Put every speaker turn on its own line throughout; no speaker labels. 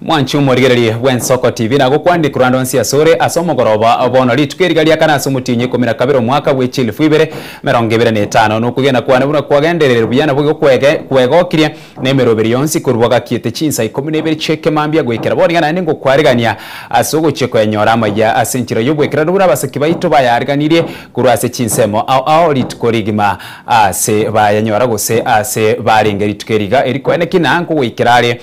Mwanchi omorigereria bw'ensoko tibi nagokwandiku rande onsi asore ase omogoroba bono rituko eri gari akana ase omotienyi ikomi na kabere omwaka bwe chielfu ibere emerongo ebere na etano na okogenda kwane buna kwagendererire buya na boigo kwege kwegokirie na emeroberi yonsi korwa bagakiete chinsa ikomi na ibere chi'ekemambia goikera boria naende ngokwarigania ase ogochia koyanyora amaiya ase enchera y'obwekerero buna abasaki baito bayariganirie korwa ase chinsemo ao ao rituko rigima aase bayanyora gose aase barenge rituko eri iga eri kwene ki na nkogoikera are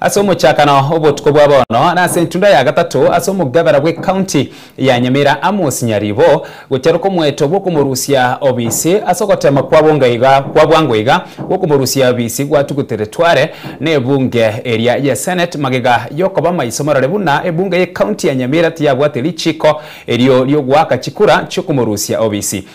Ase omochakano obotuko bwa bono na ase entunda ya gatato ase omogabera bw'ecounty ya Nyamira Amos Nyaribo gocharuka omoeto bw'okomorusia obisi ase ogotema kwa bonga iga kwa bwango iga bw'okomorusia obisi gwatugutere tware n'ebunge eria ye senate magega yokoba maiso marore buna ebunge y'ecounty ya Nyamira tiyabwate richiko erio riogoaka chikura chiokomorusia obisi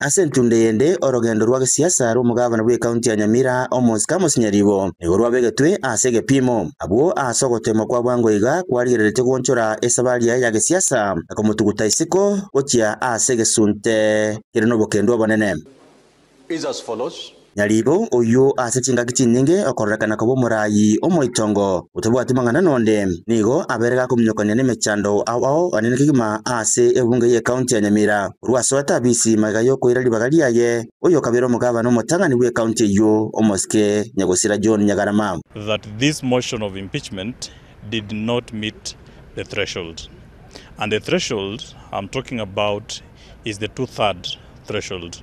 Ase entunda eyende,
orogendo rwa gesiasa rw'omogavana bw'ekaunti ya Nyamira, Amos Kamosi Nyaribo, nigo rwabegetwe ase egepiimo. Abwo ase ogoteemwa kwa bwango iga kwarigereretie goonchora esabari yaye ya gesiasa na komotuguta isiko gochia ase egesunte kere nobokendu obonene. is as
follows. Nyaribo oyio
ase chingaki chinyinge okororekana koba omoraai omoitongo, otabwati mang'ana nonde, nigo abeire gakominyokania nemechando ao ao anene kegima ase ebunge y'ecounty ya Nyamira. Korwa ase oete Abisi magega y'okoira ribaga riaye, oyokabeire omogavana omotang'ani bw'ecounty eyio, Omosike Nyagosira John Nyagarama. that this
motion of impeachment did not meet the threshold and the threshold I'm talking about is the two third threshold.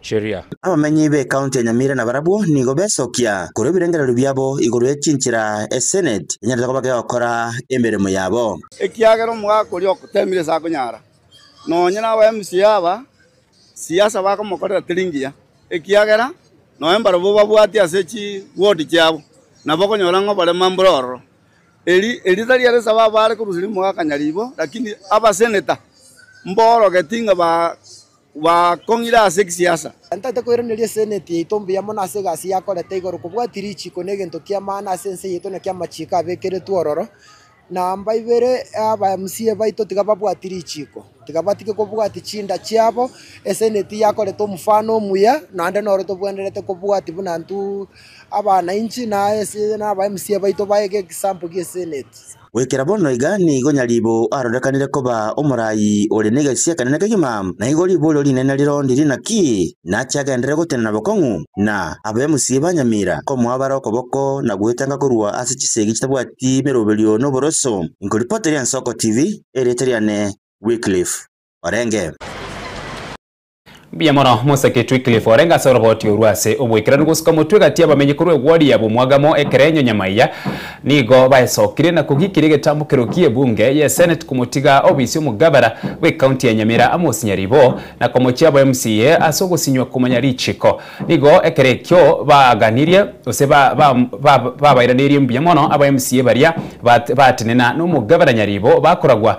chiria. Abamenyi b'ekaunti
ya Nyamira nabarabwo nigo besokia korwa ebirengererio biabo igoro ye chinchera Esenate enyarete koba kegokora emeremo yabo. Ekiagera omogaka
oria ogoteemire ase akonyara, nonye naba MCA aba siasa bakomokorera teri ngiya, ekiagera noe mbarabwo babwati ase chi ward chiabo nabo okonyora ng'a oborema mbore ororo. Eri erio tari ere sababu are koruseria omogaka nyaribo, lakini abasenator mborogeti ng'a ba. Bakong'ira ase egisiasa. Ntaete koiraneria
eseneti yaito mbuya mono ase egasi yakorete igoro kobwatia richiko negento ki'amaana ase ense yaito naki amachiko abekeretwe ororo. Namba ibere aba mca baito tiga babwati richiko tiga batige kobwatia chinda chiabo eseneti yakorete omofano omuya naende noro tobwenerete kobwatia buna intwe abanainchi na aba mca baito baege example gia eseneti. Goikera bono iga
nigo nyaribo arorekanire koba omoraai ore negeisi ekenene kegima, na igo riborio rinene rirondi rinaki nache agenderere gotenena bokong'u, na abemusie banyamira, komwabara okoboko na gwetenga korwa ase chisegi chitabwati meroberio noboroso. Inkoripoti ri'Ensoko TV, erieta riane Wycliffe Orenge.
Mbuya mono, Mosaketu Wycliffe orenge ase oroboti orwo ase oboikeranu gosuka omotwe gati y'abamenyi korwa egwori ya bomwagamo ekerenyo nyamaiya, nigo baesokire na kogikiria egetambukero ki'ebunge y'eseneti komotiga obisi omogabana bw'ekaunti ya Nyamira amosinyari bo na komochia abo MCA ase ogosinywa komanya richiko. Nigo ekero ekio baaganirie gose babairanerie mbuya mono aba MCA baria baatenena nomogabana nyaribo bakoragwa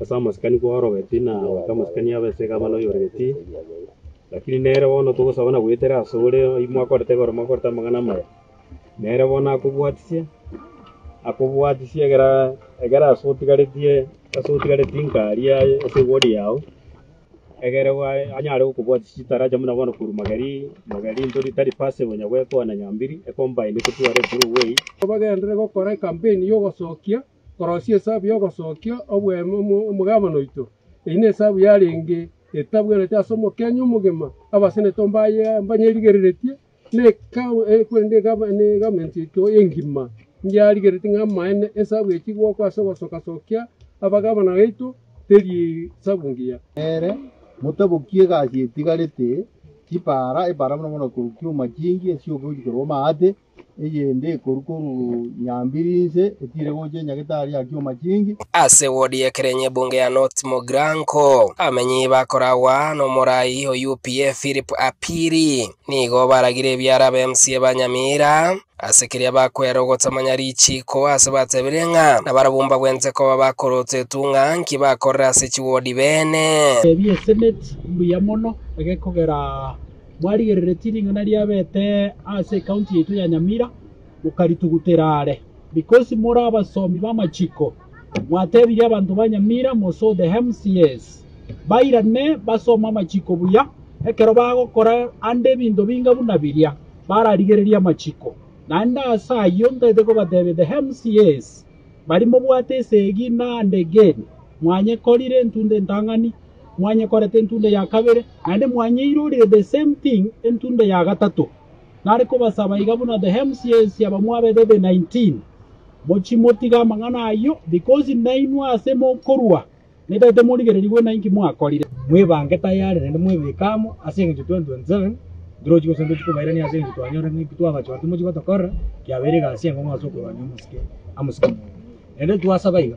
Ase amasikani
kwarogeti na goeta amasikani aba ase egavana oyoregeti, lakini nere bono togosaba na goetera asore oyio mwakorete igoro mokorete amang'ana amaya, nere bono akobwatisie, akobwatisie egera egera ase otigaretie ase otigaretie inka aria ase egori yao, egere bwaye anyare gokobwatisia chitaracha buna bono korwa mageri mageri ntori tari pase konya goekoa na nyambiri, ecombine ekotware through way. Bagenderere gokora
ekampeni y'ogosokia. Korosia esabu y'ogosokia oboemo omogabane oito. Eyio nesabu yarenge etabwerete ase omokenya omogima, abasenete mbaye mbanyerigereretie, na egavumenti yaito engima yarigereretie ng'a amaene esabu echia goakwa ase ogosokasokia abagabana baito teri esabu engiya. Nere,
motabokie egasi etigarete, chipaara, epaara mono mono korwa chioma chingi, esioka gochia korwa amaate, Eyende ekorwa korwa nyambiri inse etiire gocha enyagetaari ya kioma chingi. Ase wodi
y'ekerenyo ebunge ya North Mogranko, abamenyi bakoragwa nomorai o UPA Philip Apiri nigo baragire ebiara aba MCA ba Nyamira ase keria bakwera ogotamanya richiiko ase batebire ng'a nabarabwo mbagwente koba bakorota etung'a nki bakorera ase chiwodi beene. Tebia eseneti
mbuya mono egekogera. mwarigereretie ring'ana riabete ase ekaunti yaito ya Nyamira, mokaritugutera are. Because more abasomi b'amachiko, mwatebirie abanto ba Nyamira mosoo the MCAs, bairane basome amachiko buya, ekero bagokora ande ebinto binga buna biria, bararigererie amachiko. Naende ase ayio ntaete kobatebia the MCAs, baria mobwate esegi na ande again, mwanyekorire, ntunda entang'ani, mwanyekorete entunda ya kabere, naende mwanyeirorire the same thing entunda ya gatato. Nare kobasaba iga buna the MCAs aba mwabete the 19, mochie motige amang'ana ayio, because nainwe ase mokorwa netaete morigererigwe nainki mwakorire. Mwebange tayari naende mwebeke amo ase engencho 2027 ntirochi gose ntochi kobairania ase engencho twanyora ng'aki twabachoa timochi gotokorera, kiabeire egasi enkong'u ase okorwania omosike amo siko mono. Naende twasaba iga.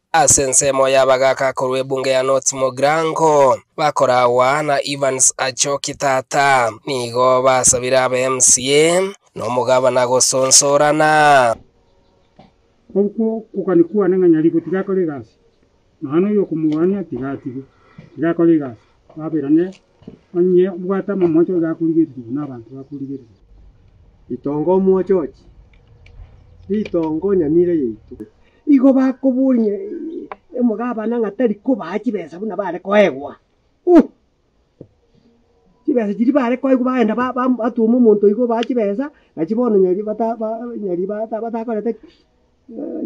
Ase ensemo
y'abagaaka korwa ebunge ya North Mogrango, bakoragwa na Evans Achoki Tata, nigo basabire aba MCA nomogabana gosonsorana.
Okwo okogania kwane ng'a nyariko tigakore egasi, nonya noyo okomogaania tiga atige, tigakore egasi, baberane Onye obwate amamwache oyo gakorigereria nabanto bakorigereria. Ritongo
omwochochi, ritongo nyamira yaito. Igo bakoboria omogabana ng'a tari kobaa chibesa buna bare koegwa. Uh! Chibesa chiria bare koegwa bagenda ba- ba- batuoma omonto iga obaa chibesa, nachi bono nyari bata ba nyari bata batakorete ki?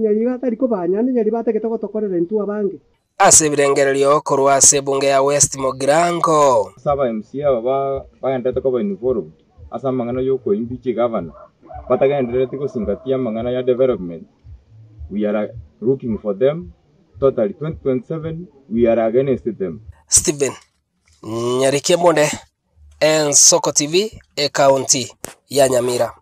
Nyari batari kobaa naende nyari batagete gotokorera intwe abange. Ase ebirengererio
korwa ase ebunge ya West Mogirango. Ase aba MC aba
bagenderete koba involved ase amang'ana yokoimbi chigavana batagenderereti gosingatia amang'ana ya development we are looking for them totally 2027 we are against them. Stephen
Nyarikia Monde, Ensoko TV, Ekaunti ya Nyamira.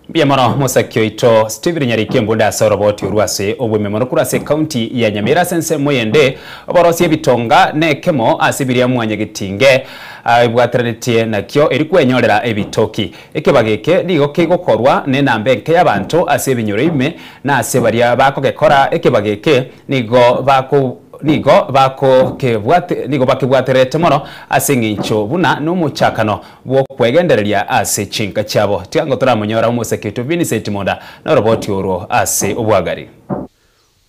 Mbuya mono mosaki oito Steven Nyariki Embunda ase oroboti orwo ase obweme mono korwa ase ekaunti ya Nyamira ase ensemo eyende oborosia ebitonga nekemo ase biria mwanyagetinge aibwateranetie nakio eri kwenyorera ebitoki. Ekebago eke nigo kegokorwa nenamba enke yabanto ase ebinyoro ime na ase baria bakogekora ekebago eke nigo bako nigo bakokebwate nigo bakebwatererete mono ase engencho buna nomochakano bw'okwegendereria ase chinka chiabo, tiango toramonyora omosaketo Vincent Monda noroboti orwo ase obwagari.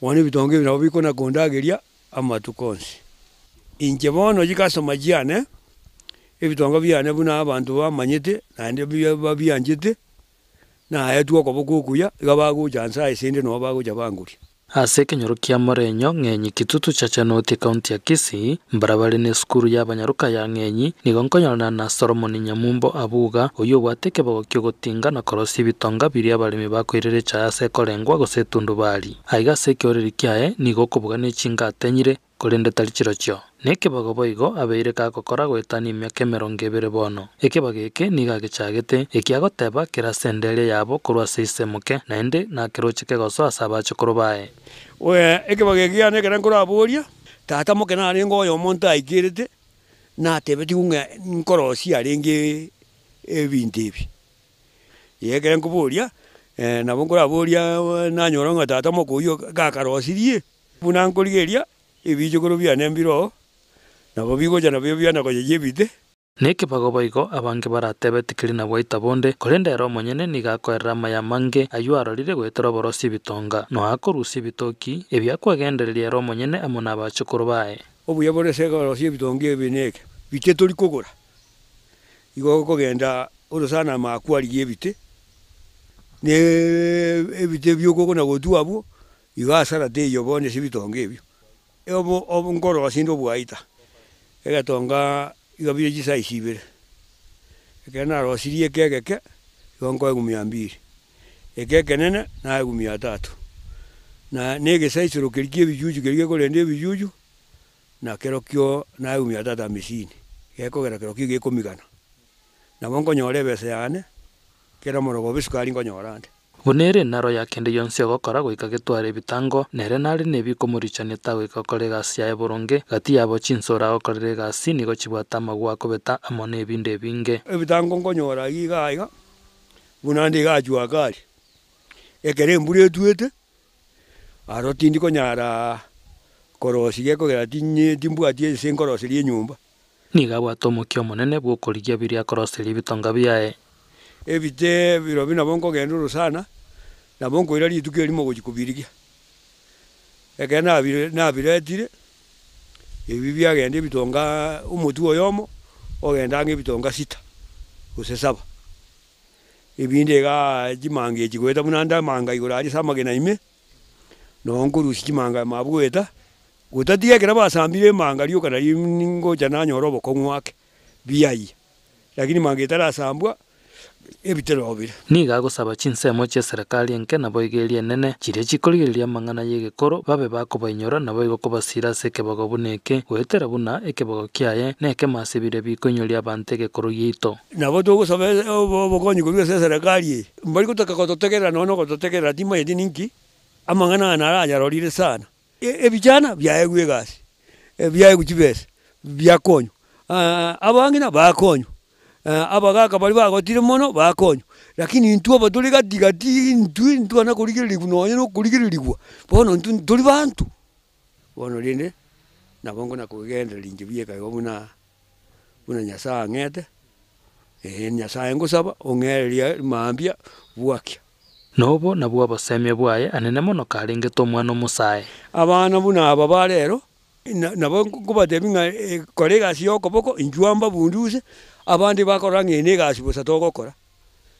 Bono
ebitonga ebi nabo bikonakondageria amatuko onsi. Inche bono oyi customer chiane, ebitonga biane buna abanto bamanyete naende babianchete, naetwe okoboko okuya, iga bagocha nse aye sende noo bagocha bangoria. Ase ekenyoro
kia Morenyo Ng'enyi Kitutu Chachanoti Ekaunti ya Kisii, mbarabare na esukuru y'abanyaruka ya Ng'enyi, nigo nkonyorana na Solomon Nyamumbo Abuga, oyio obwate ekebego ki'ogotinga na korosia ebitonga biria abaremi bakoirera echaye ase ekorengwa gose etundubari. Aiga ase ekeoreri kiaye nigo okobuga ne chinga atenyire, Korende tari chirochio nekebago boigo abeire gagokora goetania emiaka emerongo ebere bono. Ekebago eke nigo agechagete, eki agoteba kere ase endeeria yabo korwa ase ise moke, naende nakeroche kegoso ase abachokoro baye.
Ekebago eke kiane ekero nkoraboria, tata moke narenge oyomo ntaikerete, natebetigwe ng'a nkorosie arenge ebinto ebi. Ekero nkoboria, nabo nkoraboria nanyora ng'a tata moke oyio gakarosirie. Buna nkorigereria ebiichokoro biane mbiro, nabo bigocha nabio biana koyeyia ebite. Nekebago
boigo abange baratebe tikeri na bwaita bonde, korende ere omonyene nigo akoerera amaya amange, ayio arorire goetera oborosi ebitonga, noa akorusia ebitoki, ebi akwegendereria ere omonyene amo nabachukuru baye. Obuya bore ase
korosia ebitonga ebi neke, bite tori kogora? Igo okogenda ore sana amaya kwarigia ebite, ne ebite biokogo na gotwa abwo, Igo hasara teiyo bono ase ebitonga ebio, obo nkorosia inde obwaita, egetonga iga bire chisayisi ibere. Ekero narosirie eke egeke, igo nkoa egumi ya mbiri, eke ekenene nae egumi ya tatu, na negesaisoro keria ki'ebichuchu keria gekorenda ebichuchu, na kerokio nae egumi ya tatu hamesini, gekogera kerokio iga ekomigana. Nabo nkonyora ebesa yane, kera omoroba obe sukari nkonyora ande. Buna ere naroya
kende gionsi ogokora goika getware ebitango, nere nare nebikomorichania tagoika gokora egasi yaye boronge. Gati yabo chinsoro agokorera egasi nigo chibwate amagwa akobeta amo nebinto ebinge. Ebitango nkonyora
ayio iga aiga, buna nde iga achwo ake aria. Ekero embura etwete, aro tindi konyara korosia kegera timbwati ense nkoroseria enyomba. Nigo abwate
omokia omonene bw'okorigia biria akoroseria ebitonga biaye. Ebite
birobio nabo nkogenda ore sana, nabo nkoira rituko erimo gochia kobirigia. Ekero nabire nabiretire, ebi biagenda ebitonga omotwe oyomo ogenda ang'e ebitonga sita, gose saba. Ebinde igaa chimanga echi goeta buna ndamanga igoro aria ase amagena ime, noo nkorusia chimanga ime abwo goeta. Gotatiga ekero basambire emanga rioka nario ningocha nanyore obokong'u ake biayia, lakini manga etarasambwa ebitera obire. Nigo agosaba chinsemo
chi'eserekari enke naboigeria enene, chiria chikorigereria amang'ana y'egekoro, babe bakobainyora, naboigo kobasiira ase ekebogo buna eke, goetera buna ekebogo kiaye nekemo ase biria bikoinyoria abanto egekoro giaito. Nabo togosaba
obokonyi korwa ase eserekari eye. Mbari gotaka gototegerera nonya na ogototegerera timanyeti ninki, amang'ana aya naranyarorire sana. Ebichana biaegwe egasi, biaegwe chibesa, biakonywa. Abang'ina bakonywa, abagaka baria bagotire mono bakonywa. Rakini intwe aba tore gati gati intwe ntibana korigererigwa nonye na okorigererigwa, bono intwe ntori banto, bono rende nabo ngona kogenderera inche bieka igo buna. buna Nyasae ang'ete, ee, Nyasae ngosaba ong'ererie mambia bwakia. Na obo
nabwo obosemia bwaye anene mono karengete omwana omosae. Abana buna
aba ba rero, na, nabo nkobatebia ng'a e, kora egasi y'okoboko, inchwa mbabunduse, abande bakorora ng'a eye negasi bosa togokora,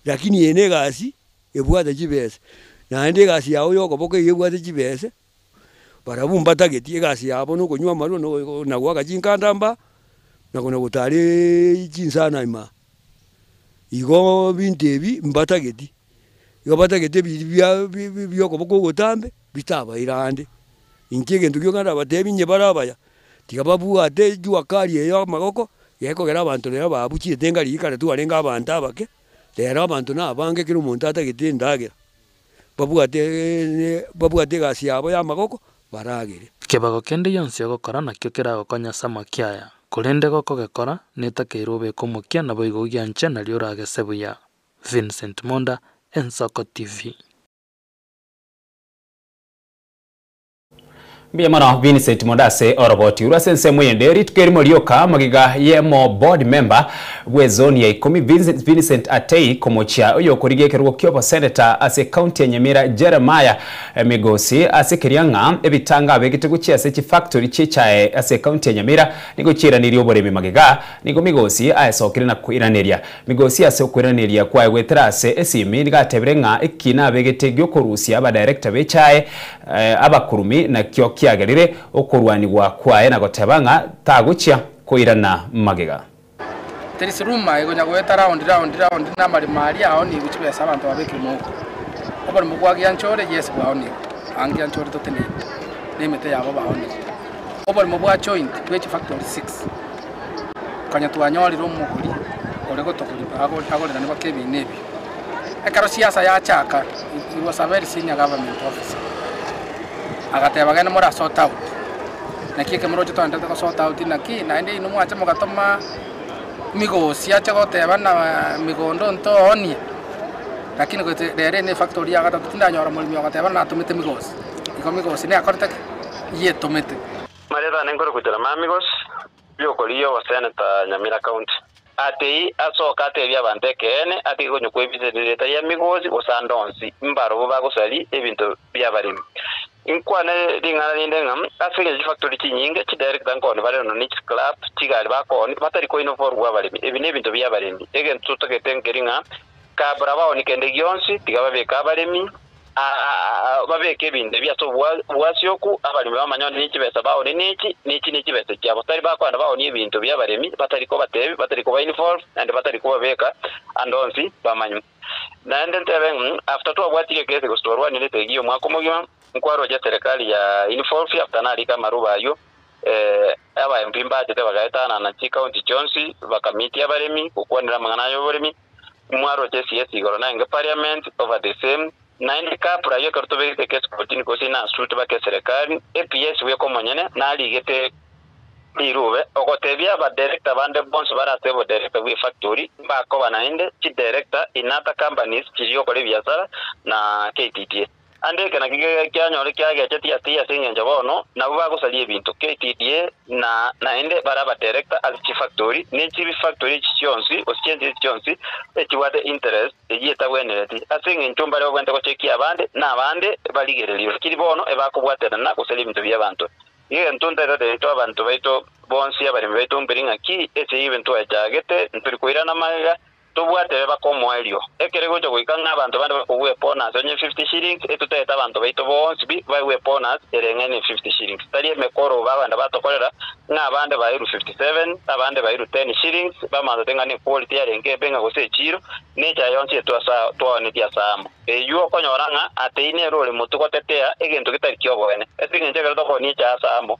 rakini eye negasi ebwate chibese, naende egasi yao y'okoboko eyio ebwate chibese. Barabwo mbatageti egasi yabo nokonywa amarwa, na goaka chinkanda mba, na gotaara chinsana ime. Igo ebinto ebi mbatageti, igo batageti ebiiri biokoboka ogotambe bitabaire aande. Inche egento gioka ndabatebi inye bare abaya, tiga babwate ejuakali eye y'amagoko, gekogera abanto rero babuchi etenga riria kare twarenge abanto abake, rero abanto nabange kera omonto atagete endagera. babwate babwate egasi yabo y'amagoko, baragere. Ekebago kende
gionsi ogokora nakio keragokonye ase amaki aya, korende gokogekora, netakeirwe obeke omokia naboigo ogianche nario oragese buya. Vincent Monda, Ensoko TV.
Mbuya mono Vincent Mondo ase oroboti orwo ase ensemo eyende. Rituko erimo rioka mogiga y'omo board member bw'ezoni ya ikomi Vincent Vincent Atei komochia oyokorigia ekerogo ki'oboseneta ase ecounty ya Nyamira Jeremiah Migosi ase keria ng'a ebitanga abegete gochia ase chifactory chi'echae ase ecounty ya Nyamira nigo chiairanirie oboremi magega nigo Migosi aesokire na koiraneria Migosi ase okweraneria kwaye goetera ase esimi nigo atebire ng'a eki nabegete giokorusia abadirector b'echae abakurumi nakio kiagerire okorwanigwa kwaye na goteba ng'a tagochia koirana magega. Teri siruma
egonya goeta round round round namarimo aria aonigwe chibesa abanto babekire mouko. Oborimo bwa gianchore yes bwaonigwe, aang' gianchore toteneine, na emete yabo baonigwe. Oboremo bwa joint bwe chifactory 6 konya twanyorire omogori ore gotogorigwa agorera nigo kebiina ebio. Ekero siasa yachaka it was a very senior government officer agateba gende more sort out naki eke moroche togende to sort out naki naende inwe mwacha mogatoma migosi ache goteba buna migondo ontoonie lakini goet rero ene efactory ya gatato tindanyora omoremi ogateba buna natomete migosi igo migosi nekorete ki? yetomete. Maria tane nkore
gochera Mamigos y'okorigia obosene ta Nyamira County. Atei asoke atebie abanto ekeene atige konyokwa ebiche rieta ya migosi gose ande onsi mbarobu bagosari ebinto biabaremi. Inkwane ring'ana rinde ng'a ase engencho chifactori chinyinge chidirector nkoni bare nono ne chiclub chigari bakoni batari koina oboru bwabaremi ebi nebinto biabaremi egento totagete nkeri ng'a kabra baoni kende gionsi tiga babeke abaremi babeke ebinto ebi ase obwasyoku, abaremi bamanyore nechibesa baonie nechi, nechi nechibesa chiabo. Tari bakwana baonie ebinto bi'abaremi, batari kobatebi, batari koba involve, naende batari kobabeka ande onsi bamanye. Naende ntebe ng'a after twabwatire ekesi gose twarwanire esegi y'omwaka omogima, nkwaroche eserekari ya involve after narika amaroba ayio, aba MP mbachete bagaetanana chicounty chionsi, bakamitia abaremi gokwanera amang'ana ay'oboremi, mwaroche CS igoro naende Parliament over the same, naende kabra ayio ekero tobegete case kotini gose ina suit bake eserekari, APS bweka omonyene narigete rirube ogotebia aba director bande bonsi bare ase obo director bwe factory mbakoba naende chi director in other companies chiria okora ebiasara na KTDA. Naende eke nakio kiagera kianyore kiagecha Tiatiri ase engencho bono nabwo bagosaria ebinto, KTDA, na naende bare abadirector ase chifactori, ne chifactori echi chionsi, gose chiensi echi chionsi echibwate interest eyio etagwenereti, ase engencho mbare babwenerete gochekia abande, na abande barigererigwe, lakini bono ebakobwaterana gosaria ebinto bi'abanto. Iga intwe ntaetete intwe abanto baito bonsi abaremi baito mperi ng'a ki ase ebibe ntwaechagete, ntori koirana magega, tobwate ebe bakomoa erio, ekere gocha goika ng'a abanto bande bakogwa ebonus onye fifty shillings, etotagete abanto baito bonsi bi baigwe ebonus ere ng'a ne fifty shillings, tari emekoro bagenda batokorera, ng'a abande bairwe fifty seven, abande bairwe ten shillings, bamansote ng'a ne quality yarenge embe ng'a gose echiro, na echa yonsi etwe ase aa twaoneti ase amo. Eywo okonyora ng'a ateine ere ore motwe gotetea egento getari ki'oboene. Ase engencho ekero tokoonia echa ase amo,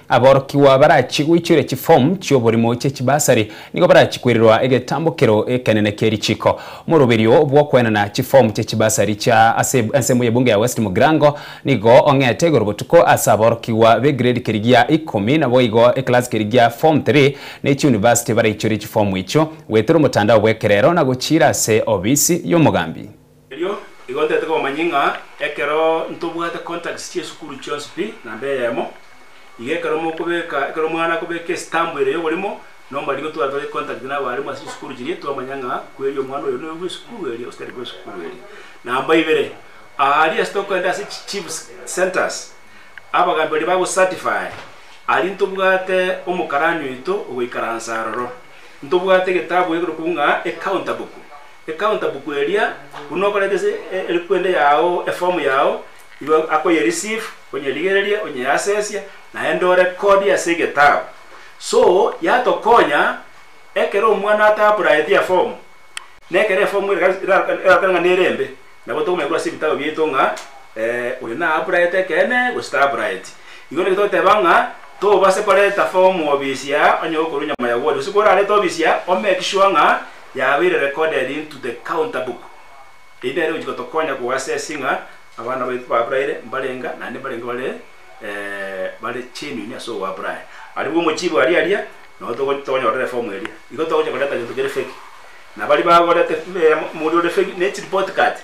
Aborokigwa barachie goichoria chiform chi'oborimo chie chibasari nigo barachie koirerwa egetambokero ekenene kie richiko. Moroberio bw'okoenana chiform chie chibasari chia ase ensemo y'ebunge ya West Mugirango nigo ong'ete igoro botuko ase aborokigwa b'egrade kerigia ikomi naboigo eclass kerigia form three ne chiuniversity baraichorie chiform echio goetera omotandao bw'ekerero na gochiira ase obisi y'omogambi Erio igo
ntete komanya ng'a ekero ntobwate contacts chi'esukuru chionsi pi namba eyemo, iga ekero mokobeka, ekero omwana akobeka estamp ere y'oborimo, nombariri gotwara tore contact nabarimu ase chisukuru chiria, twamanya ng'a kweri omwana oyo noyo bw'esukuru eria gose tari bw'esukuru eria. Namba ibere, aria ase tokogenda ase chi chiefs centres, abagambi baria bago certify, aria ntobwate omokarani oito ogoikaransa aroro, ntobwate egetabu ekerokwu ng'a ecounter book. Ekaunta buku eria buna okoreta ase erikwende yao, eform yao, igo akoye receive, onyerigereria, onye access, naende o record ase egetabu. So yatokonya ekero omwana ata apurayeti eform, na ekero eform ere erarokana ng'a nere embe, nabo tokomanya korwa ase ebitabu biaito ng'a oyo na apurayete ekeene gose ta apurayeti. Igo naki togoteba ng'a tobase koreta form ofisi aa onye gokorwa nyama ya wodi, gose korarete ofisi aa o make sure ng'a. yabeire recorded into the counter book. Eyio nere egochi gotokonya koassess ng'a abana baito b'Abraire mbarenga naende mbarenge bare bare genuine ase ogoAbraire. Aribwo omochibi aria aria nabo togo tokonyorera eform eria. Igo togochia koreta gento kere fake. Na baria bagoreta omoria ore fake ne chireport card.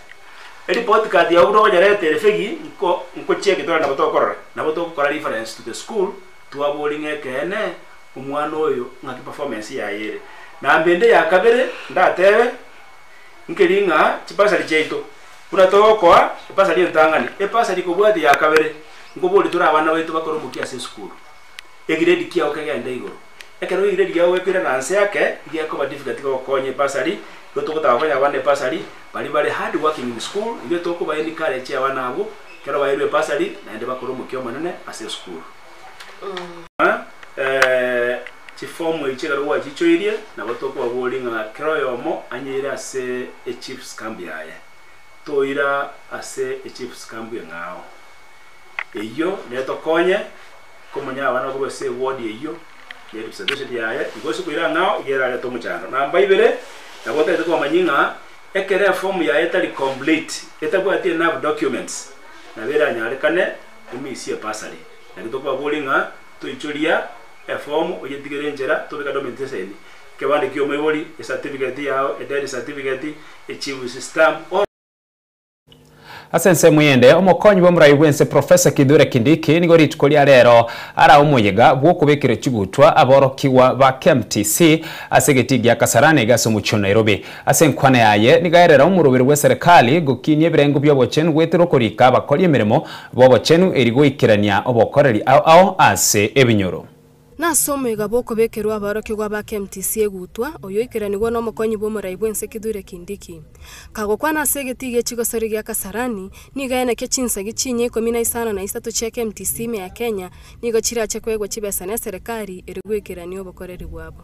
Ereport card yago buna okonyereta ere fake nko nkochia egetorero nabo tokorora. Nabo togokora reference to the school twaborie ng'a ekeene. omwana oyo ng'aki performance yaye ere. Na mende ya kabere ndatebe, nkeri ng'a chibasari chiaito buna togokoa ebasari entang'ani, ebasari kobwate ya kabere, nkoborie tore abana baito bakore omokia ase esukuru, egrade kiao kegende igoro. Ekero egrade yao gekoira na nse ake, gekoba difficult gokonya ebasari, igo togotaka kokonya abana ebasari baria bare hard working in school, igo tokoba encourage abana abwo ekero baeirwe ebasari naende bakore omokia omonene ase esukuru. Chifomu echi ekero gwachichoirie, nabo tokobaboria ng'a kera oyomo anyeire ase echief's camp yaye. Toira ase echief's camp eng'ao. Eyio netokonye komonyara abana bakorwa ase eward eyio ne representation yaye. Igo ase koira ang'ao iga erarete omochando. Namba ibere, nabo otaete komanya ng'a ekero efomu yaye etari complete, etabwati enough documents, nabo eranyarekane. Emisi e bursary. Naki tokwabori ng'a toichoria efomu oyetigere enchera tobeke domentation, ekebande kia omoibori, ecertificate yao, edeath certificate, echief's stamp, or.
Ase ensemo eyende, omokonyi bw'omorai bw'ense Professor Kithure Kindiki nigo rituko ria rero arae omoyega bw'okobekera chigutwa aborokigwa ba KMTC ase egetii gia Kasarani iga ase omochie o Nairobi. Ase enkwana yaye nigo erera omoroberi bw'eserekari gokinia ebirengo bi'obochenu goetera okorika abakori emeremo b'obochenu eri goikerania obokoreri ao ao ase ebinyoro. Nase omoigabo
okobekerwa aborokigwa ba KMTC egutwa, oyoikeranigwa n'omokonyi bw'omorai bw'ense Kithure Kindiki, kagokwana ase egetii gie chigosori gia Kasarani, nigo enekio chinsagi chinya ikomi na isano na isato chia KMTC ime ya Kenya nigo chirache koegwa chibesa neserekari eri goikerania obokoreri bwabo.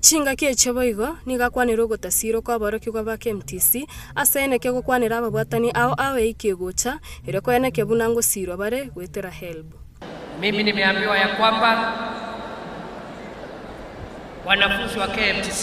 Chingaki
echio boigo nigo akwanire ogotasiirwa kw'aborokigwa ba KMTC, ase eneke gokwanera ababwatani ao ao eike egocha, erio kweneke buna ngosiirwa bare goetera helb. Mimi
nimeambiwa ya kwamba wanafunzi wa KMTC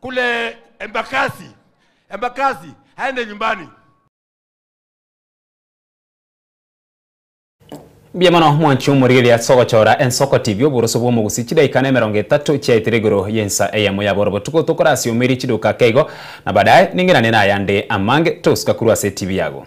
Kule embakasi, embakasi, aende nyumbani.
Mbuya mono mwanche omorigeri ase ogochora ensoko TV oboroso bw'omogusi chidaika na emerongo etato chiaetire igoro y'ensa eyemo ya boro botuko tokorasiomeri chiduka keigo na badaye ning'irane nayande amange tosuka korwa ase TV yago.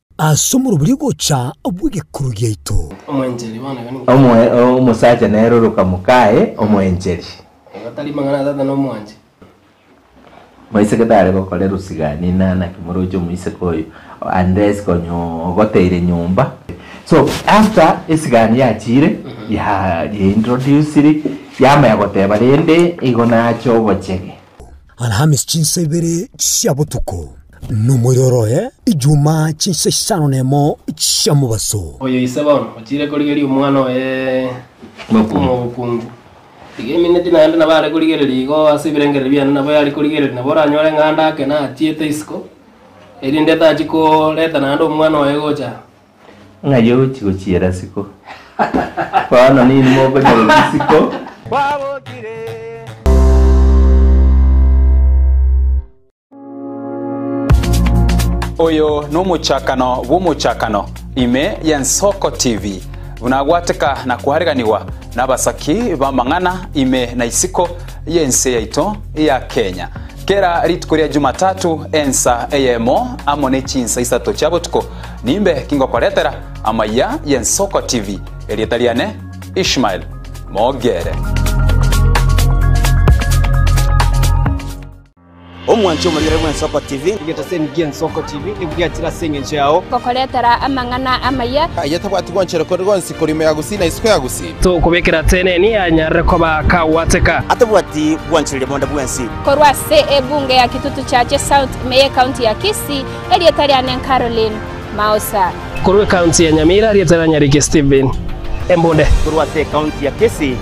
Ase omorobori ogocha bw'egekuru giaito.
Omosacha nere
oroka mokaye omoencheri. Moiseke tare gokora erosigani inaa naki moroche omoiseke oyo unless konya ogoteire nyomba. So after esigani yachire yaintroduciri yamanya goteba rende igo nache obochege. Alhamisi
chinsa ibere chia botuko, na omoiro oroe Ijumaa chinsa isano na emo chia mobaso. Oyo ise bono
ochiire korigeria omwana oye omokungu, iga emineti naende nabo are korigereria igo ase ebirengererio biane nabo yare korigereria, nabo oranyore ng'a ande ake nachiete isiko, erinde etachia koreta naende omwana oye gocha Ng'ai
ogochia gochiera isiko? Bono ninwe mokonyorwa isiko.
Oyo nomochakano bw'omochakano ime y'Ensoko TV, buna gwateka na koareganigwa nabasaki b'amang'ana ime na isiko y'ense yaito ya Kenya. Kera rituko ria Jumatatu ensa eyemo amo ne chinsa isato chia botuko, Nimbe ki ngokoretera amaya y'Ensoko TV? Erieta riane Ishmael Mogere.
omwanche omorere bw'ensoko tv egento ase enigi ensoko tv ebwatire ase eng'encho yao gokoretera amang'ana
amaya aye tabwati gonchere kore
gonsi korimo ya gusii na isiko ya gusii tokobekera
teneni anyarire koba kagwateka atabwati
gwancherire bonde bwensi korwa ase
ebunge ya kitutu chache south meye county ya kisii Erieta riane nCaroline Mausa. Korwa ecounty
ya Nyamira erieta rianyarike Stephen Embunde. Korwa ase ecounty
ya Kisii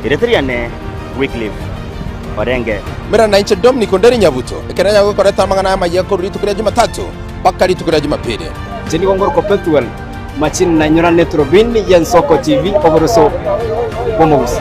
erieta riane Wycliffe Orenge. Mera na inche Dominic Onderi Nyabuto, ekero yaya gokoreta amang'ana aya amayia korwa rituko ria Jumatatu mpaka rituko ria Jumapili. Inche nigo ngoroka Pethuel Machin na inyora ne Turubini ye Nsoko TV oboroso bw'omogusi.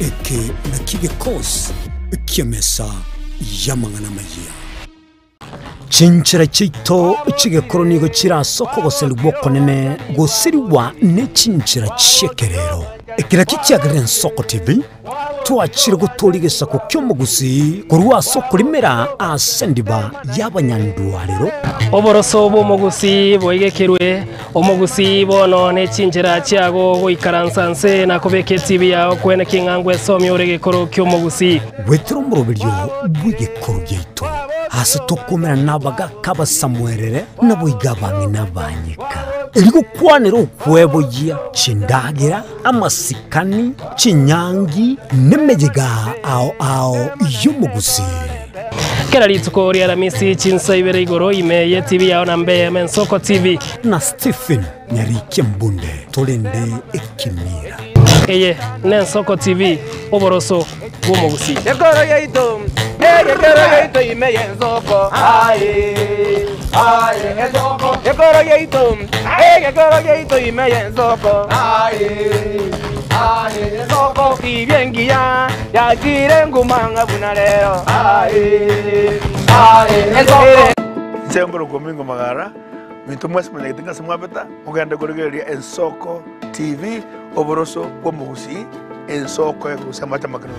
Eke nakio gekosi ki'emesa y'amang'ana amayia. Chinchera chiaito chigekoro nigo chirasoka ogoserigwa okonene gosirigwa nechinchera chi'ekerero. Eke nakio kiagerire Nsoko TV twachire gotoora egesaku ki'omogusi korwa ase okorimera ase ndiba y'abanyandwarero. Oboroso
bw'omogusi boigekerwe. Omogusii, bono ne chinchera chiago goikaransa nse na kobeka etibi yao kwene king'angwa esomie ore gekoro ki'omogusii. Gwetera omoroberio
bw'egekoro giaito, aase tokomerana nabagaka abasamoerere, naboigo abang'ina abanyeka, erio gokwanere okweboyia chindagera, amasikani, chinyangi, nemeyiga ao ao y'omogusii.
Kera rituko ri'Alamisi chinsa ibere igoro ime ye TV yao na mbe yeme Nsoko TV. Na Stephen
Nyarikia Mbunde torende ekimira. Eye
ne Nsoko TV, oboroso bw'omogusii. Ekoro yaito, eh, ekoro yaito
ime ye Nsoko. Aye, aye, Nsoko. Ekoro yaito, eh, ekoro yaito ime ye Nsoko. Aye, aye, Nsoko. Ibye engiya. Yachire nguma ng'a buna rero. Ensoko ero komingo magara minto mwase manyagete ngase mwabeta mogende korigereria ensoko TV oboroso bwomogusii ensoko egogusia amache amakerero.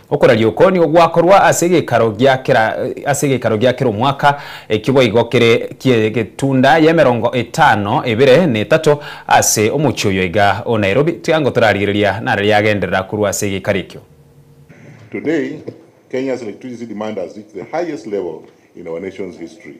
Okoraria oko nigo gwakorwa ase egeikaro gia kera ase egeikaro gia kera omwaka, ekio boigo kere ki'egetunda y'emerongo etano ebere na etato ase omochie oyo iga o Nairobi. Tweango torarigereria nare riagenderera korwa ase egeikaro ekio. Today
Kenya's electricity demand has reached the highest level in our nation's history.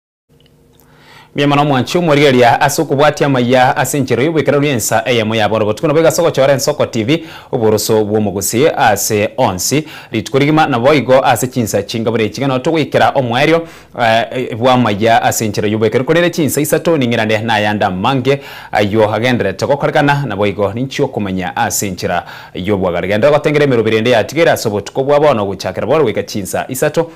Mbuya mono omwanchi omorigereria ase okobwatia amaya ase enchera y'oboikeranu y'ensa eyemo ya bono botuko. Nabo igase ogochora Ensoko TV oboroso bw'omogusi ase onsi rituko rigima. Naboigo ase chinsa chinga buna echi iga nao togoikera omoerio bw'amaya ase enchera y'oboikeranu. Korende chinsa isato ning'irane nayande amange ayio agendererete gokorekana, naboigo ninchi okomanya ase enchera y'obwagare. Genderera gotengera emeroberi ende yatigaire ase obotuko bwa bono ogochakera bono goika chinsa isato